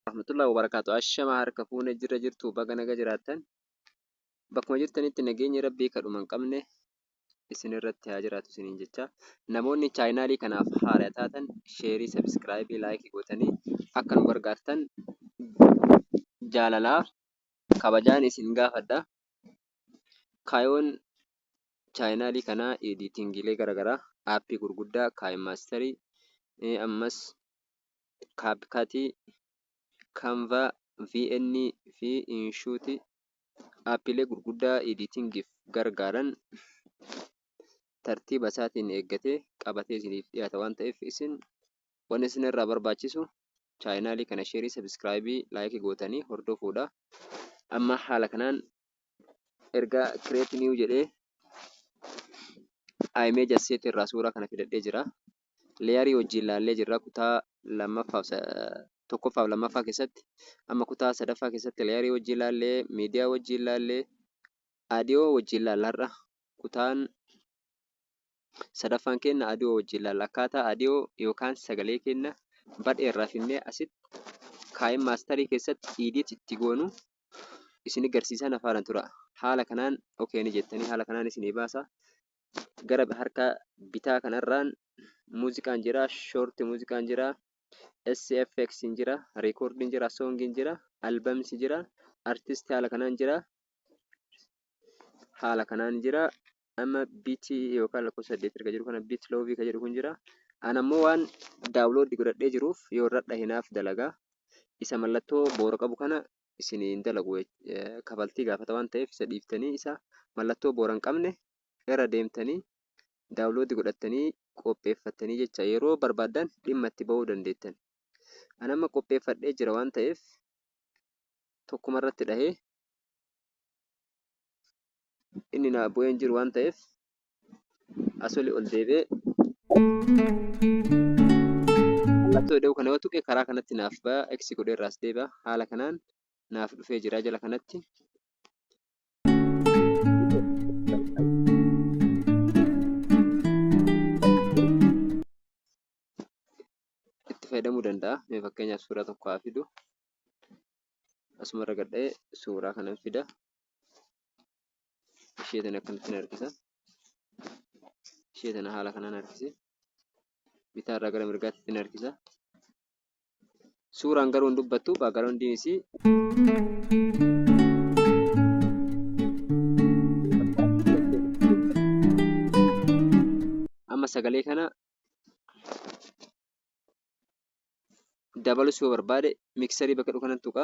rahmatullahi wabarakaatu ashama harka fuune jirra jirtu baga naga jiraattan bakkuma jirtanitti nageenyi rabbii kadhuma hin qabne isin irratti haa jiraatu isiniin jecha namoonni chaayinaalii kanaaf haara taatan sheerii sabiskiraayibii laayikii gootanii akka nu gargaartan jaalalaa kabajaan isin gaafadha Kaayoon chaayinaalii kanaa ediitingiilee gara garaa aappii gurguddaa kaayimaasteri ammas kaapkatii kaanvaa vn fi inshuuti aappiilee gurguddaa ediitingiif gargaaran tartiiba isaatiin eeggate qabatee isiniif dhihaata waan ta'eef isin wan isin irraa barbaachisu chaayinaalii kana sheerii sabiskiraayibii laayikii gootanii hordofuudha amma haala kanaan erga create new jedhee image asset irraa suuraa kana filadhee jira leeyarii wajjiin laallee jirra kutaa lammaffaaf tokkoffaaf lammaffaa keessatti amma kutaa sadaffaa keessatti leeyarii wajjiin laallee miidiyaa wajjiin laallee aadiyoo wajjiin laallaarra kutaan sadaffaan kenna aadiyoo wajjiin laalla akkaataa aadiyoo yookaan sagalee kenna badheerraa finnee asitti kaa'in maastarii keessatti iidiit itti goonuu isini garsiisaa na faana tura. Haala kanaan okay ni jettanii haala kanaan isinii baasa. Gara harka bitaa kanarraan muuziqaan jira, short muuziqaan jira, SFX hin jira, record hin jira, song hin jira, albums jira, artist haala kanaan jira. Haala kanaan jira. amma bit yookaan lakkoofsa saddeet erga jiru kana bit loovi ka jedhu kun jira an ammoo waan daawloodi godhadhee jiruuf yoo irra dhahinaaf dalagaa isa mallattoo boora qabu kana isin hin dalagu kafaltii gaafata waan ta'eef isa dhiiftanii isa mallattoo boora hin qabne irra deemtanii daawloodi godhattanii qopheeffattanii jecha yeroo barbaaddan dhimma itti ba'uu dandeettan an amma qopheeffadhee jira waan ta'eef tokkuma irratti dhahee inni naa bu'ee hin jiru waan ta'eef asoli ol deebi'ee mallattoo ida'uu kana yoo tuqe karaa kanatti naaf ba'a x godhee irraas deebi'a haala kanaan naaf dhufee jira jala kanatti itti fayyadamuu danda'a mee fakkeenyaaf suuraa tokko haa fidu asuma irra gadhee suuraa kana fida ishee tana akkanatti harkisa ishee tana haala kanaan harkise bitaa irraa gara mirgaatti ittiin harkisa suuraan garuu hin dubbattu baagaroondiin isii amma sagalee kana dabalus yoo barbaade miksarii bakka dhukanan tuqa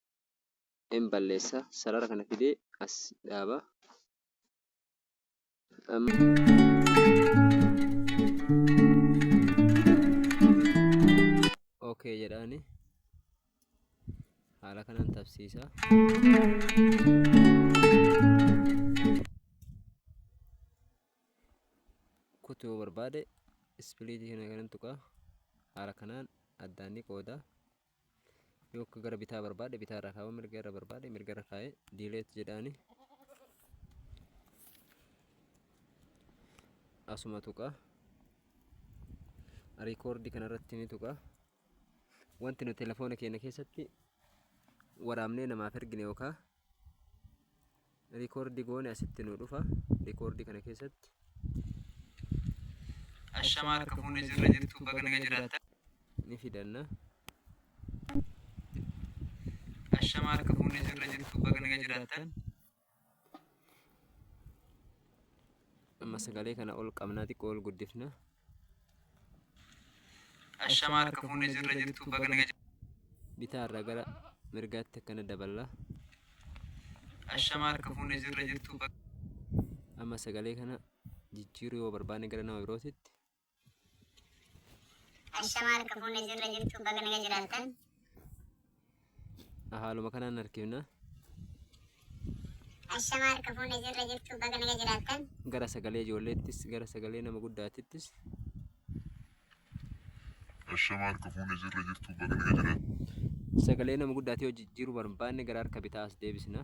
in balleessa sarara kana fidee as dhaaba ok jedhaani haala kanaan tabsiisa kutu yoo barbaade ispiliitii kana kanan tuqaa haala kanaan addaan ni qooda Yook gara bitaa barbaade bitaa irra kaa'uu mirga irra barbaade mirga irra kaa'ee diileet jedhaani. Asuma tuqa. Riikoordii kanarratti ni tuqa. Wanti nuti telefoona keenya keessatti waraabnee namaaf ergine yookaan Rikoordi goone asitti nu dhufa. Rikoordi kana keessatti. Ashamaa harka fuunee jirra jirtu baga naga jiraata. Ni fidanna. Ashamaa harka fuunee jirra jirtu baga naga jiraata. Amma sagalee kana ol qabnaa xiqqoo ol guddifna. Ashamaa harka fuunee jirra jirtu baga naga bitaa irraa gara mirgaatti akkana daballa Ashamaa harka fuunee jirra jirtu baga amma sagalee kana jijjiiruu yoo barbaanne gara nama birootitti Ashamaa harka fuunee jirra jirtu baga naga jiraattan Haaluma kanaan harkifna. Ashamaa harka fuunee jirra jirtu baga naga jiraattan. Gara sagalee ijoolleettis, gara sagalee nama guddaatittis. Ashamaa harka fuunee jirra jirtu baga naga jiraattan. Sagalee nama guddaatii yoo jijjiiruu barbaanne gara harka bitaa as deebisna.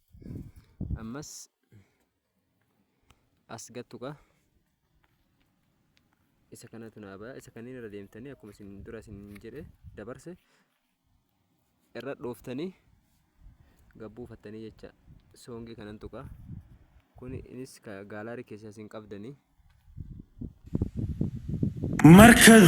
ammas as gattuqa isa kanatu naa baya isa kanneen irra deemtanii akkuma isin dura isin jedhe dabarse irra dhooftanii gabbuufattanii jecha soongii kanan tuqa kun inis gaalaarii keessaa isin qabdanii markaz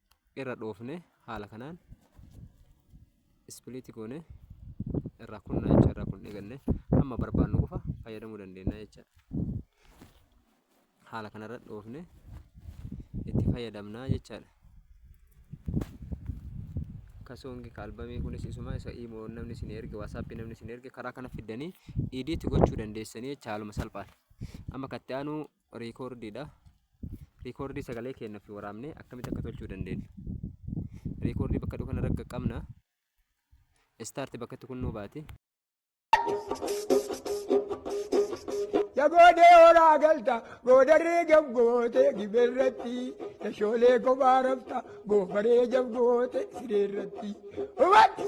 irra dhoofne haala kanaan ispiliiti goone irraa kunnaa jecha irraa kun eegalle amma barbaannu qofa fayyadamuu dandeenya jecha haala kanarra dhoofne itti fayyadamnaa jechaadha. Kasoongi kaalbamii kunis isuma isa imoo namni isin erge waasaappii namni isin erge karaa kana fiddanii idiitti gochuu dandeessanii jecha haaluma salphaan amma katti aanuu riikoordiidha. Riikoordii sagalee keenna fi waraabnee akkamitti akka tolchuu dandeenyu. Riikoordii bakka dhufu kana ragga qabna. Istaarti bakka itti kunnuu baati. Ya goodee horaa galta goodarree gabgootee gibeerratti tashoolee kophaa rafta goofaree jabgootee sireerratti. Hubadhu!